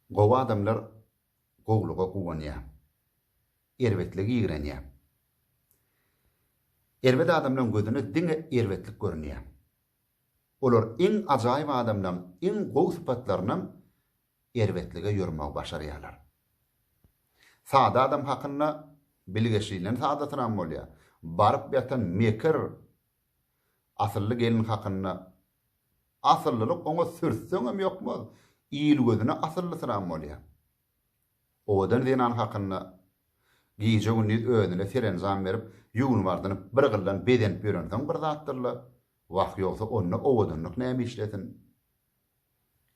Gowy adamlar gowulyga guwanýar. Erbetlige ýigrenýär. Erbet adamlaň gözüne diňe erbetlik görünýär. Olar iň ajaýyp adamlaň iň gowy sypatlarynam erbetlige ýormegi başarýarlar. Sada adam hakynda bilgeşlinden sadasynam bolýar. Baryp ýatan mekir asylly gelin hakynda Asyllylyk oňa sürtseňem ýokmaz, il gözüne asyllysyram bolýar. Owadan zenan hakynda gije-gündiz özüne serenjam berip, ýuwnup-ardynyp, bir gyllan bezenip ýörensoň bir zatdyr-la, wah, ýogsa onda owadanlyk näme işlesin?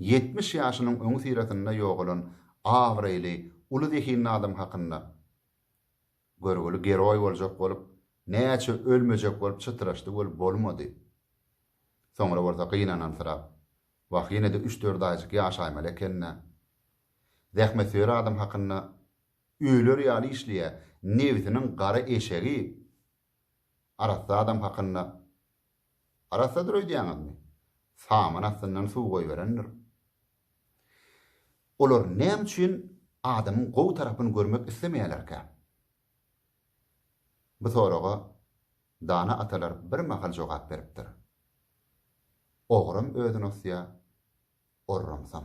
Ýetmiş ýaşynyň öňüsyrasynda ýogalan abraýly, uly zehinli adam hakynda. Görgüli geroý boljak bolup, näçe ölmejek bolup çytraşdy weli bolmady. Soňra bolsa gynanansyrap, Wah, ýene-de üç-dört aýjyk ýaşaýmaly eken-dä. Zähmetsöýer adam hakynda öler ýaly işleýä, nebsiniň gara eşegi. Arassa adam hakynda Arassadyr öýdýäňizmi? Saman astyndan suw goýberendir. Olar näme üçin adamyň gowy tarapyny görmek islemeýärlerkä? Bu soraga dana atalar birmahal jogap beripdir. Ogram özüni osýar, orramsam.